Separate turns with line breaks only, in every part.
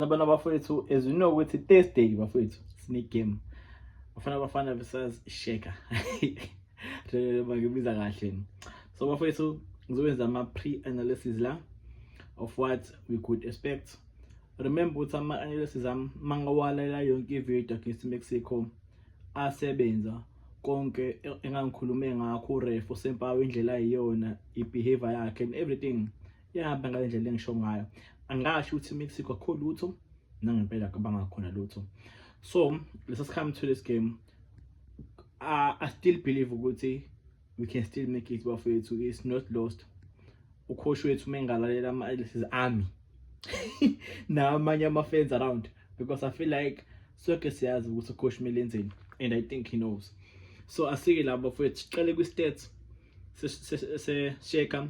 Abana bafowethu as we know ukuthi Thursday bafowethu sine game. Bafana bafana versus Sheka. Rele bakubiza kahle. So bafowethu ngizokwenza ama pre analysis la of what we could expect. Remember ukuthi ama analysis am mangawalela yonke ivideo against Mexico asebenza konke engangikhulume ngakho uRef usempawe indlela ayiyona ibehavior yakhe and everything yahamba ngale ndlela engisho ngayo angasho ukuthi imexico akho lutho nangempela kabanga khona lutho so lesa sikhathi to this game uh, i still believe ukuthi we can still make it bafowethu it's not lost ukhoshi wethu uma engalalela ama-alices ami namanye ama-fans around because i feel like sonke siyazi ukuthi ukhoshi kumele enzeni and i think he knows so asike labo bafowethu siqale kwi-stats sesheka se, se,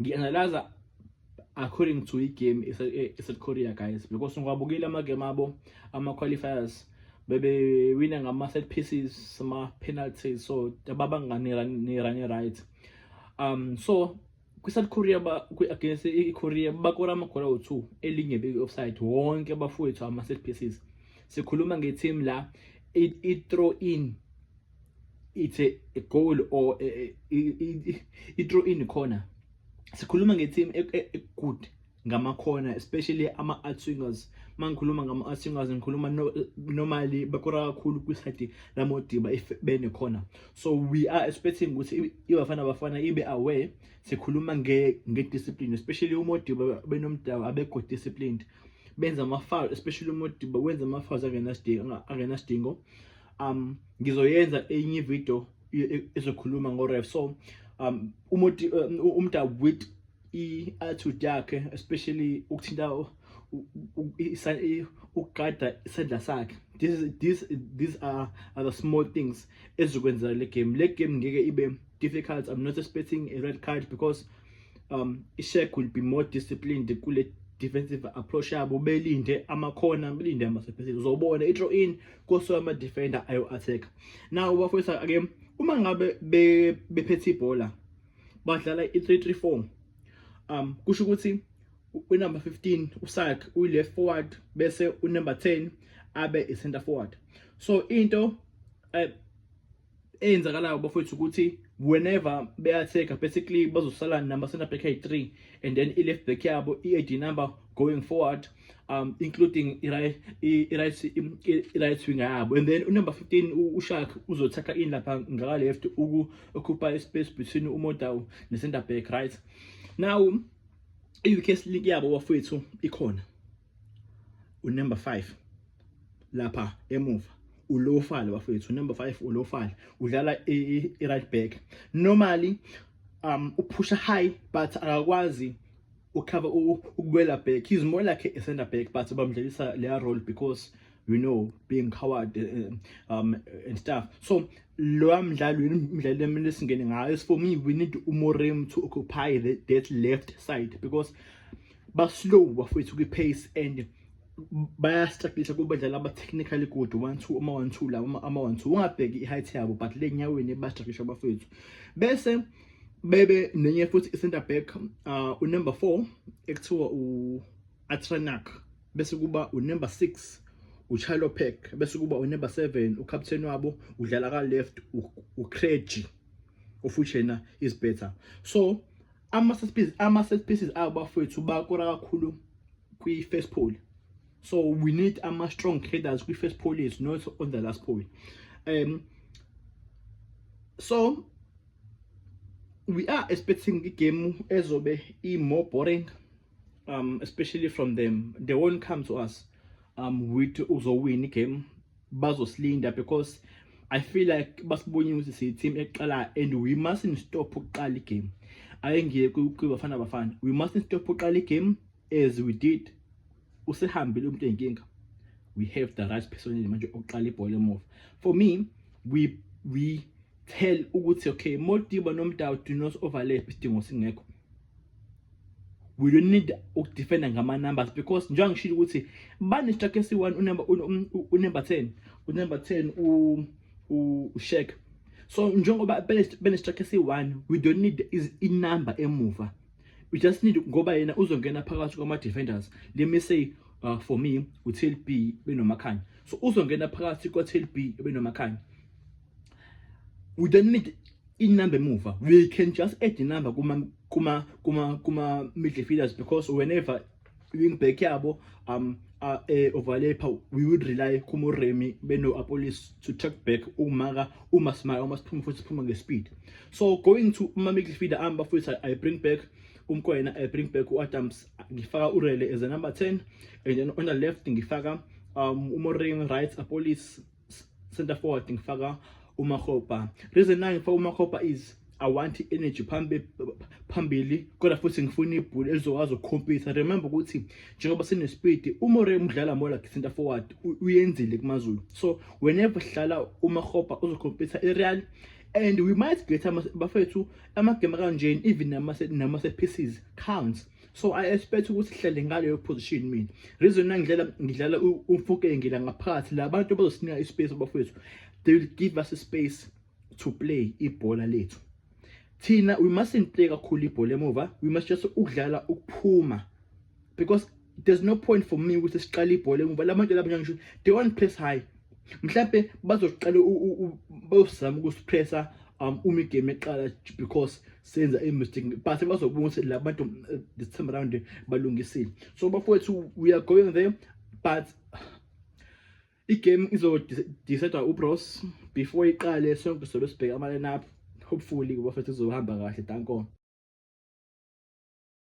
ngi-analyza according to igame eSouth Korea guys because ngiwabukile amagame abo ama-qualifiers bebewina ngama-set pieces ama-penalties so babanganirane right um so kwi-south korea against i-korea bakora amagora awu-two elinye beki-offside wonke abafowethu ama-set pieces sikhuluma nge-team la i-throw in it's a, a goal or i-throw in corner sikhuluma nge-team e, e, e, good ngamakhona especially ama-outswingers uma ngikhuluma ngama-outswingers ngikhuluma normally bakora kakhulu kwisayidi lamodiba if benekhona so we are expecting ukuthi ibafana bafana ibe aware sikhuluma nge-discipline especially umodiba benomdawu abekho disciplined benza ama-foul especially umodiba wenza ama-fouls angenasidingo um ngizoyenza enye video ezokhuluma ngoref so um umuti um, umda with i-attitude yakhe especially ukuthinta ukugada isandla sakhe this is this these are, are the small things ezikwenzela le game le game ngeke ibe difficult i'm not expecting a red card because um ishek will be more disciplined kule defensive approach yabo belinde amakhona belinde amasephezile uzobona i-draw in koso ama defender ayo attack now bafowethu ake uma ngabe bephethe ibhola badlala i334 um kusho ukuthi unumber 15 usak uyleft forward bese unumber 10 abe i center forward so into eh, eyenzakalayo bafowethu ukuthi whenever beyatheka basically bazosala number center back high 3 and then i left back yabo i ID number going forward um including i right i right i right wing yabo and then number 15 ushak uzothakha in lapha ngaka left uku occupy space between umodaw ne center back right now i weakest link yabo bafowethu ikhona unumber 5 lapha emuva ulofala bafethu number 5 ulofala udlala i-right back normally um uphusha high but akakwazi ukhava ukubuyela back he's more like a center back but bamdlalisa leya role because you know being coward eh, eh, um and stuff so lo mdlalo umdlalo emele singene ngayo for me we need umorem to occupy the, that left side because ba slow bafowethu kwi pace and bayastrugglisa kubadlali aba-technically good one two uma one two la ama one two ungabheki i-height yabo but le nyaweni bastrugglisa abafowethu bese bebe nenye futhi i-center back uh, unumber four ekuthiwa u-atranak bese kuba unumber six uchalo pack bese kuba unumber seven ukapteni wabo udlala ka-left ucregi ofuthi yena is better so ama-set pieces ama-set pieces abo bafowethu bakora kakhulu kwi-first pole so we need ama-strong headers kwi-first pole is not on the last pole um so we are expecting igame ezobe i-more boring um especially from them they won't come to us um with uzowina igame bazosilinda because I feel like basibonye ukuthi siyi team eqala and we mustn't stop ukuqala igame ake ngiye kwiBafana Bafana we mustn't stop ukuqala igame as we did usehambile umuntu enkinga we have the right person manje oqala ibhola emuva for me we we tell ukuthi okay Modiba noMdawu do not overlap isidingo singekho we don't need ukudefenda ngama numbers because njengoba ngishilo ukuthi bane strike esi1 unumber unumber 10 unumber 10 u ushek so njengoba bene strike esi1 we don't need is i number emuva we just need ngoba yena uzongena phakathi kwama defenders let me say uh, for me uTLB benomakhanya so uzongena phakathi kwaTLB benomakhanya we don't need inumber emuva we can just add inumber kuma kuma kuma kuma midfielders because whenever wingback yabo um uh, eh, overlapper we would rely kumoremi beno-apolis to track back umaka uma simaya uma siphuma futhi siphuma ngespeed so going to uma midfielder amba futhi i bring back umkwena i bring back u-adams ngifaka urele as a number 10 and then on the left ngifaka um umoremi right apolis center forward ngifaka uMakgopa reason nayo ngifaka uMakgopa is I want energy phambili phambili kodwa futhi ngifuna ibhola elizokwazi ukukhompisa remember ukuthi njengoba sine speed umore umdlala more like center forward uyenzile kumaZulu so whenever sidlala uMakgopa uzokhompisa iReal and we might get bafethu amagame kanjeni even nama set pieces counts so i expect ukuthi sihlale ngaleyo position mina reason engidlela ngidlala umfuke ngila ngaphakathi la bantu bazosinika ispace abafowethu they will give us a space to play ibhola lethu thina we mustn't play kakhulu ibhola emuva we must just ukudlala ukuphuma because there's no point for me ukuthi siqale ibhola emuva labantu laba ngisho they want press high mhlambe bazoqala bayosizama ukusipressa um uma igame eqala because senza i-mistake but bazobona ukuthi la bantu eh, this time around balungisile so bafowethu we are going there but igame izodecide ubros before iqale sonke sobe sibheka ama-line up hopefully bafethu izohamba kahle dankon